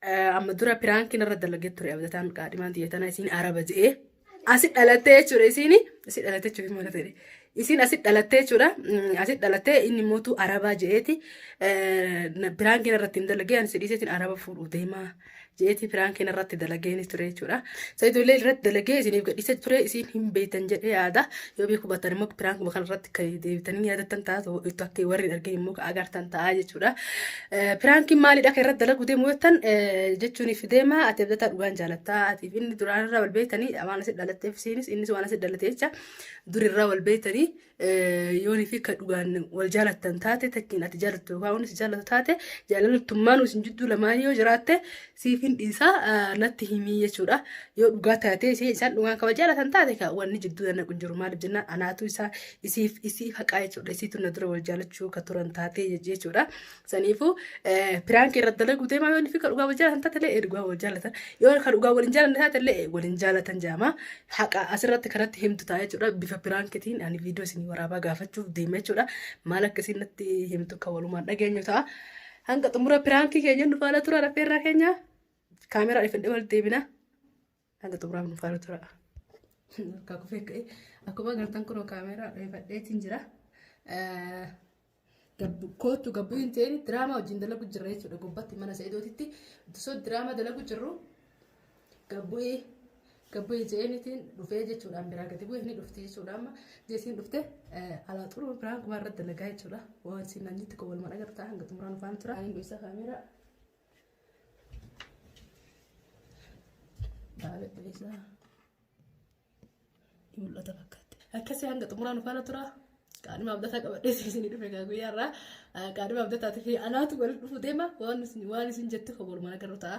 Amma dura piraankiin irra dalagee ture abdataan qaadhimaan tiyya tana isiin araba je'ee asi dhalattee jechuudha isiin asi dhalattee jechuudha maal ta'e isiin asi dhalattee jechuudha asi dhalattee inni mootu arabaa je'eeti piraankiin irratti hin dalagee ani sidhiiseetiin araba fuudhu deemaa je'eeti piraankiin irratti dalageen ture jechuudha sayidoollee irratti dalagee isiniif gadhiisa ture isiin hin beektan jedhee yaada Yoo beeku baattan immoo piraankuma kanarratti kan deebitanii yaadattan ta'a ta'u itti akka warri hin argin immoo agartan ta'a jechuudha. Piraankiin maalidha kan irratti dalaguu deemu jettan jechuuniif deema ati abdataa dhugaan jaalatta atiif inni duraan irraa wal beektanii waan asi dhalatteef isiinis innis waan asi dhalate jecha dur irraa wal beektanii yoonii fi kan dhugaan wal jaalattan taate takkiin ati jaalattu yookaan innis jaalatu taate jaalaltummaan isin jidduu lamaan yoo jiraatte siifin dhiisaa natti himii jechuudha. Yoo dhugaa taatee ishee isaan dhugaan kaba jaalatan taate ka wanni jidduu nannaqu hin jiru maaliif jennaan anaatu isaa isiif isii haqaa jechuudha. Isiitu na dura wal jaalachuu ka turan taatee jechuudha. Saniifuu piraanki irra dalaguu deemaa yoo fi ka dhugaa wal jaalatan taate illee dhugaa wal jaalatan yoo ka dhugaa wal hin jaalanne taate illee wal hin jaalatan jaama. Haqa asirratti kanatti himtu ta'a jechuudha. Bifa piraankitiin ani viidiyoo isin waraabaa gaafachuuf deema jechuudha. Maal akka isin natti himtu ka walumaan dhageenyu ta'a. Hanga xumura piraankii keenya nu faana tura rafeerraa keenya kaameraa dhifadhe wal deebina. Hanga xumuraaf nu faana tura. Akka kufee ka'e akkuma agartan kunoo kaameraa dhifadheetiin jira. Gabbu kootu gabbu hin ta'in diraamaa wajjin dalagu jirra jechuudha gubbatti mana se'edootitti osoo diraamaa dalagu jirru Gabbu'ii gabbu'ii jeenitiin dhufee jechuudhaan biraa gadi bu'ee ni dhufti jechuudha amma jeesiin dhufte alaa xuruu biraan kumaa irratti dalagaa jechuudha waan siin nan jetti kowwalman agartaa hanga xumuraan ufaan tura. Ani isa kaameeraa. Baala isaa. Ni mul'ata fakkaatti. Akkasii hanga xumuraan ufaan tura. Qaadhima abdataa qabadhee isin dhufe gaa guyyaa irraa qaadhima abdataatii fi anaatu walitti dhufu deema waan isin jettu kowwalman agarru ta'a.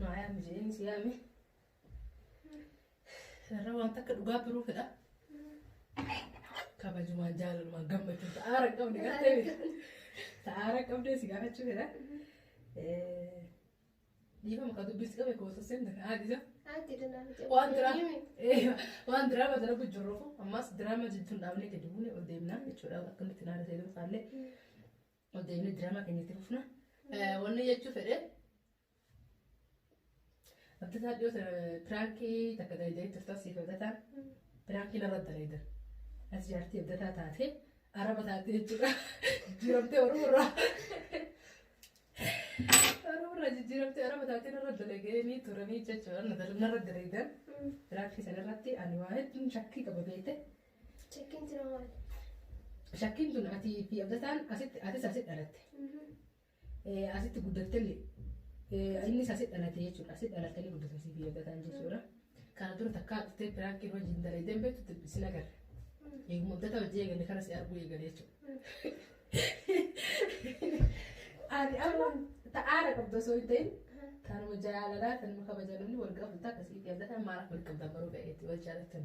Maayaa mijeen si yaame. Sarara waan takka dhugaa biruu fedha. Kabajumaan jaalalumaan gammachuu sa'aara hin qabne gartee miti. Sa'aara hin qabne si gaafachuu fedha. Dhiifama kan dubbisi qabe koo saseen na haadisa. Waan diraa waan diraa mata darbu jirruuf ammas diraa mata jechuun dhaabnee gadi buune ol deemnaa jechuudha akkamitti naara ta'e ilaallee. Ol deebinee diraamaa keenya itti fufna. Wanni jechuu fedhe. Abdataa dhiyoo piraankii takka dalagdee turtan siif abdataan piraankii narra dalagdan. As jaartii abdataa taatee araba taatee jechuudha. Jijjiiramtee Oromoo irraa. Oromoo irraa jijjiiramtee araba taatee narra dalaganii turanii jechuudha. Narra dalagdan. Piraankii sanarratti ani waa hedduun shakkii qaba beekte. Shakkiin jira maali? Shakkiin tun ati fi Abdataan asitti atis asitti dhalatte. Eh, Asitti guddattellee. Eh, Innis asitti dhalatte jechuudha. Asitti dhalattanii guddatan si fi Abdataan jechuudha. Kana dura takkaa dhuftee piraankiin wajjin dalaydeen beektu sin agarre. Eeguma Abdataa wajjin eegalle kana si arguu eegale jechuudha. Ani amma ta'aara qabda osoo hin ta'in kanuma jaalalaa kanuma kabaja namni wal gaafatu ta'a akkasii fi Abdataan maalaaf wal qabdan baruu ga'eetti wal jaalattan.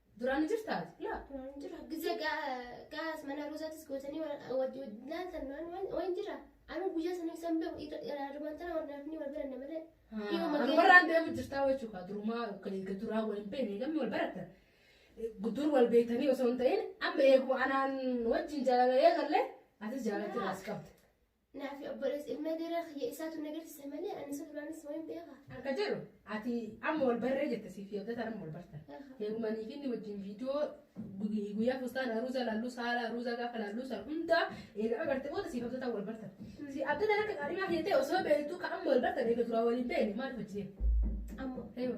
Duraan jirta ati? Laa. Waan jira. Gizee gaas mana roozatis gootanii laatan waan jira. Anu guyyaa sana isaan beeku irraan tana waan naaf ni wal baranne malee. Anumarraan deemu jirtaa jechuudha. Durumaa kan duraa wal hin beekne gamni wal baratan. Dur wal beektanii osoo hin ta'in amma eeguma anaan wajjin jaalala eegalle atis jaalachuu as qabda. Naa fi obboleessa ilma dheeraa kiyya isaatu na garsise malee ani isa duraanis waan beekaa. Akka jedhu ati amma wal barree jette siif yaabdataan amma wal bartan. Heerumanii fi inni wajjin viidiyoo gu- guyyaa fustaan aruuza laalluu saala aruuza gaafa laalluu san hundaa eegaa barte booda siif abdataan wal bartan. Si abdataan akka qaadhimaa kiyya ta'e osoo beektuu ka amma wal bartan eega duraa waliin beekne maaliif hojii Amma Eewa.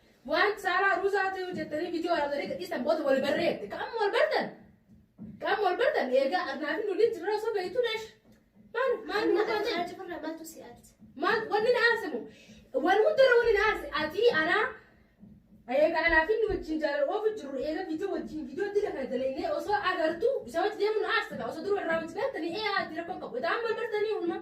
Waan saaraa ruuzaa ta'uu jettanii viidiyoo waraabdanii gadhiistan booda wal barreette. Qaama wal bartan. Qaama wal bartan eegaa arnaa fi nuliin jirra osoo beektu dash. Maal maal nu taate? Maal wanni na aarsimu? Wal hundarra wanni na aarsi atii anaa eegaa anaa fi nu wajjin jaalala oofu jirru eegaa viidiyoo wajjin viidiyoo dila kana dalaynee osoo agartu isa wajjin deemu na aarsa osoo dura irraa wajjin beektanii ee ati rakkoon qabu. Itaan wal bartanii hundumaa.